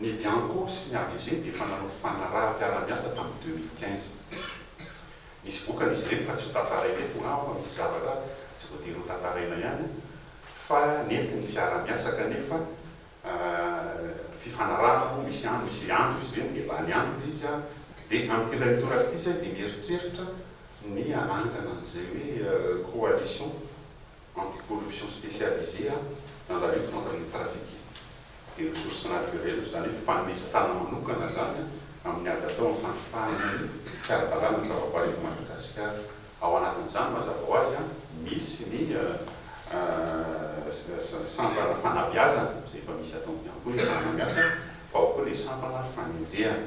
Ny Bianco sy ny AVG dia efa nanao fanaraha-piarahamiasa tamin'ny deux mille quinze. Misy vokany izy ireny fa tsy hotantaraina eto na aoka misy zavatra tsy voatery hotantaraina ihany fa nety ny fiarahamiasa kanefa fifanarahana moa misy andro misy andro izy ireny dia lany andro ilay izy dia amin'ity indray mitoraka ity izay dia mieritreritra ny hanangana an'izay hoe coalition anti-corruption spécialisée a dans la lutte contre les trafics des ressources naturelles, izany hoe fanesitana manokana izany amin'ny ady atao amin'ny fandripahana ny tsy ara-dalàna ny zavaboary eto Madagasikara. Ao anatin'izany mazava ho azy misy ny sampana fanabeazana izay efa misy atao ihany koa iaraha-mamiasa fa ao koa ilay sampana fanenjehana.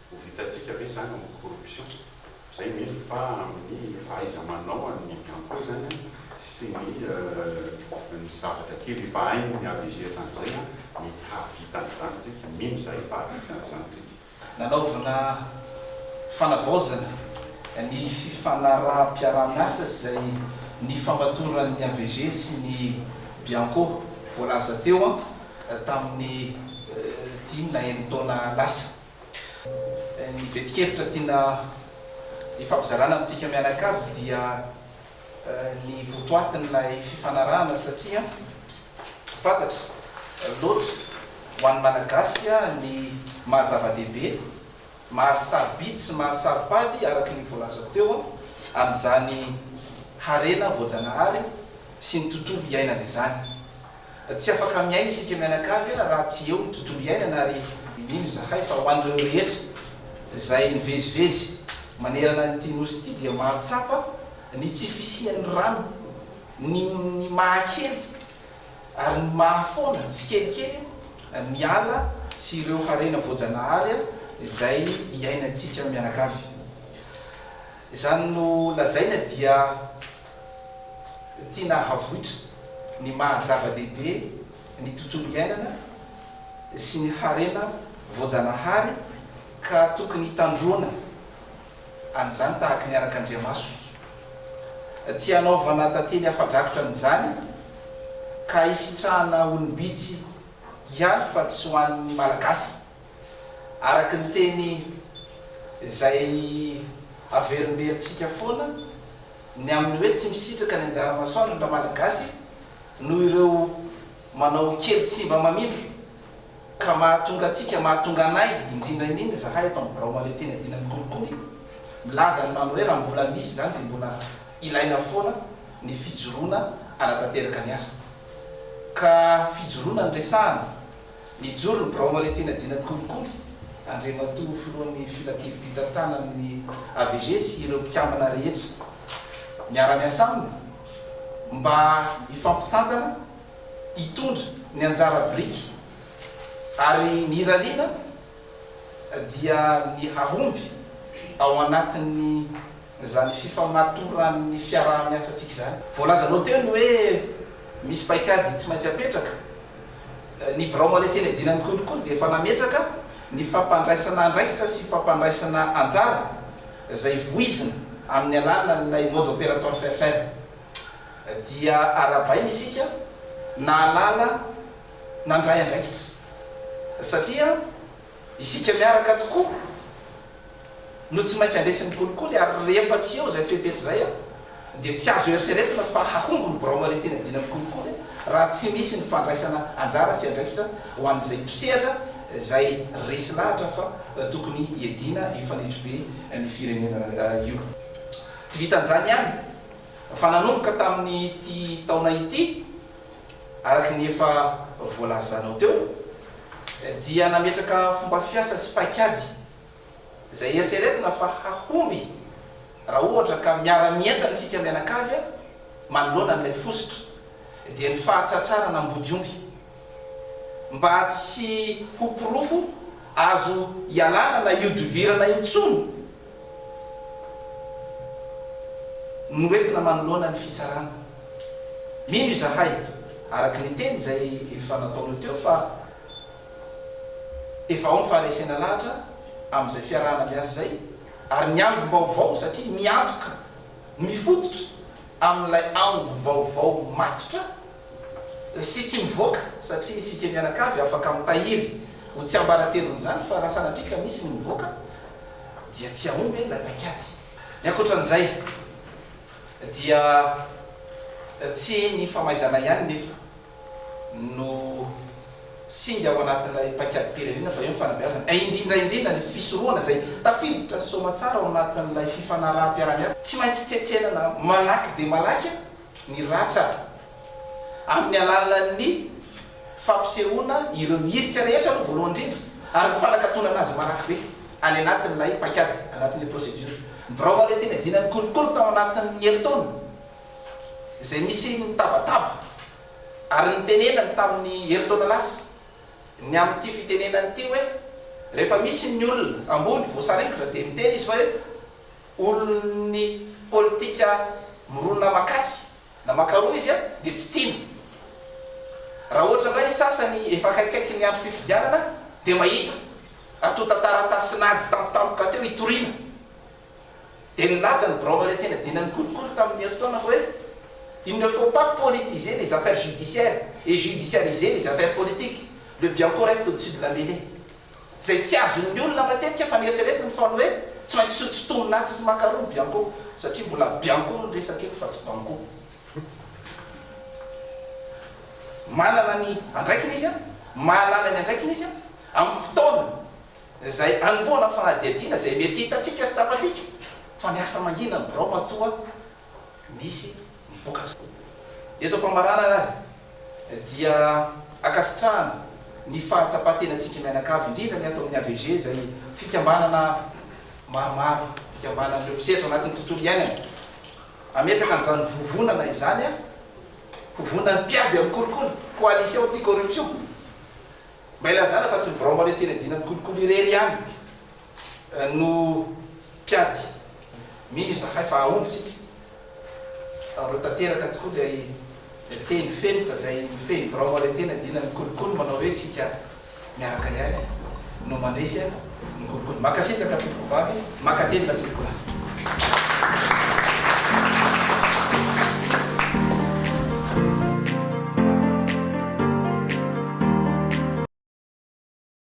Ho vitantsika ve izany amin'ny corruption? Izay mino fa amin'ny fahaiza-manao an'ny Bianco izany sy ny ny zavatra kely efa hainy avy age hatramin'izay, mety hahavita an'izany tsika. Mino izahay fa hahavita an'izany tsika. Nanaovana fanavaozana ny fifanaraham-piaraha-miasa izay nifamatoran'ny avg sy ny Bianco voalaza teo tamin'ny dimy na enin-taona lasa. Ny vetin-kevitra tiana hifampizarana amintsika mianakavy dia ny votoatin'ilay fifanarahana satria fantatra loatra ho an'ny Malagasy ny maha zava-dehibe, maha sarobidy sy maha saropady araka ny voalazako teo an'izany harena voajanahary sy ny tontolo iainana izany. Tsy afaka miaina isika mianakavy raha tsy eo ny tontolo iainana ary mino izahay fa ho an'ireo rehetra izay mivezivezy manerana an'ity nosy ity dia mahatsapa ny tsy fisian'ny rano ny ny mahakely ary ny mahafoana tsikelikely ny ala sy ireo harena voajanahary izay iainantsika mianakavy. Izany no lazaina dia. tiana havoitra ny maha zava-dehibe ny tontolo iainana sy ny harena voajanahary ka tokony hitandroana an'izany tahaka ny arak'andriamaso. Tsy hanaovana tantely afa-drakotra an'izany ka hisitrahana olom-bitsy ihany fa tsy ho an'ny Malagasy. Araka ny teny izay averimberitsika foana, ny amin'ny hoe tsy misitraka ny anjara masoandro ny Ramalagasy noho ireo manao kely tsy mba mamindro ka mahatonga antsika, mahatonga anay indrindra indrindra izahay ato amin'ny birao mahaleo tena dina ny kolikoly milaza ny manao hoe raha mbola misy izany dia mbola ilaina foana ny fijoroana hanatanteraka ny asa ka fijoroana no resahana. Nijoro ny biraon'ny Haritianadinan'ny Kolikoly, Andriamatoa Filohan'ny Filankevi-pitantanan'ny AVG sy ireo mpikambana rehetra miara-miasa aminy mba hifampitantana hitondra ny anjara biriky ary ny irariana dia ny hahomby ao anatin'izany fifamatoran'ny fiaraha-miasantsika izany. Voalazanao teo ny hoe misy paikady tsy maintsy apetraka. Ny birao Malentena Edina ny kolikoly dia efa nametraka ny fampandraisana andraikitra sy fampandraisana anjara izay voizina amin'ny alalan'ilay mode opérateur FFR. Dia arahabaina isika nahalala nandray andraikitra satria Isika miaraka tokoa no tsy maintsy handresy ny kolikoly ary rehefa tsy eo izay fepetra izay dia tsy azo eritreretina fa hahomby ny birao marem-pianadiana ny kolikoly raha tsy misy ny fandraisana anjara sy andraikitra ho an'izay mpisehatra izay resy lahatra fa tokony hiadiana io fanetribe ny firenena io. Tsy vitan'izany ihany fa nanomboka tamin'ity taona ity, Araka ny efa voalazanao teo dia nametraka fomba fiasa sy paikady izay eritreretina fa hahomby raha ohatra ka miara-mientana isika mianakavy manoloana an'ilay fositra dia ny fahatratrarana ambodiomby mba tsy ho porofo azo ialana na ihodivirana intsony Noentina manoloana ny fitsarana. Mino izahay, araka ny teny izay efa nataonao teo, fa efa ao ny faharesena lahatra amin'izay fiarahana miasa izay, ary ny angom-baovao, satria miantoka, mifototra amin'ilay angom-baovao matotra, sy tsy mivoaka satria isika mianakavy afaka mitahiry ho tsiambaratelon'izany fa raha sanatria ka misy ny mivoaka dia tsy hahomby ilay paik'ady. Ny ankoatran'izay dia tsy ny famaizana ihany nefa no singa ao anatin'ilay paikadim-pirenena fa eo ny fanabeazana a indrindra indrindra ny fisorohana izay tafiditra soamatsara ao anatin'ilay fifanaraham-piarahamiasa. Tsy maintsy tsetsenana malaky dia malaky ny ratra amin'ny alalan'ny fampisehoana ireo hirika rehetra aloha voalohany indrindra ary ny fanakatonana azy malaky be any anatin'ilay paikady, anatin'ilay procédure. Ny birao Malety niadiana ny kolikoly tao anatin'ny herintaona izay nisy ny tabataba ary nitenenany tamin'ny herintaona lasa ny amin'ity fitenenana ity hoe rehefa misy ny olona ambony voasaringotra dia miteny izy fa hoe. Olon'ny politika mirona makasy na makaroa izy an dia tsy tiana. Raha ohatra indray ny sasany efa akaikikaiky ny andro fifidianana dia mahita atonta taratasy nady tampotampoka teo itoriana. Dia nilaza ny biraon'ny Valintena-dinan'ny kolikoly tamin'ny herintaona fa hoe Il ne faut pas politiser les affaires judiciaires et judiciariser les affaires politiques, le bianco reste au-dessus de la mellee. izay tsy azon'ny olona matetika fa ny eritreretiny foana hoe tsy maintsy tsy tsintomina atsy sy maka aroa ny bianco satria mbola bianco ny resaka eto fa tsy banco. Manana ny andraikiny izy, mahalala ny andraikiny izy amin'ny fotoana izay anombohana fanadihadiana izay mety hitantsika sy tsapantsika fa ny asa mangina ny birao matoa misy ny vokatra. Eto am-pamaranana ary dia ankasitrahana ny fahatsapan-tenantsika mianakavy, indrindra ny ato amin'ny AVG izay fikambanana maromaro, fikambanan'ireo mpisehatra ao anatin'ny tontolo iainana. Hametraka an'izany vovonana izany aho, ho vonona ny mpiady amin'ny kolikoly, coalition anti-corruption. Mba ilazana fa tsy ny birao maretin-dina amin'ny kolikoly irery ihany. no mpiady. Mino izahay fa hahomby isika ary ho tanteraka tokoa ilay teny fenitra izay mifehy ny birao maoretena dina ny kolikoly manao hoe isika miaraka ihany no mandresy ny kolikoly. Mankasitraka tompoko vavy, mankatelina tompoko lahy.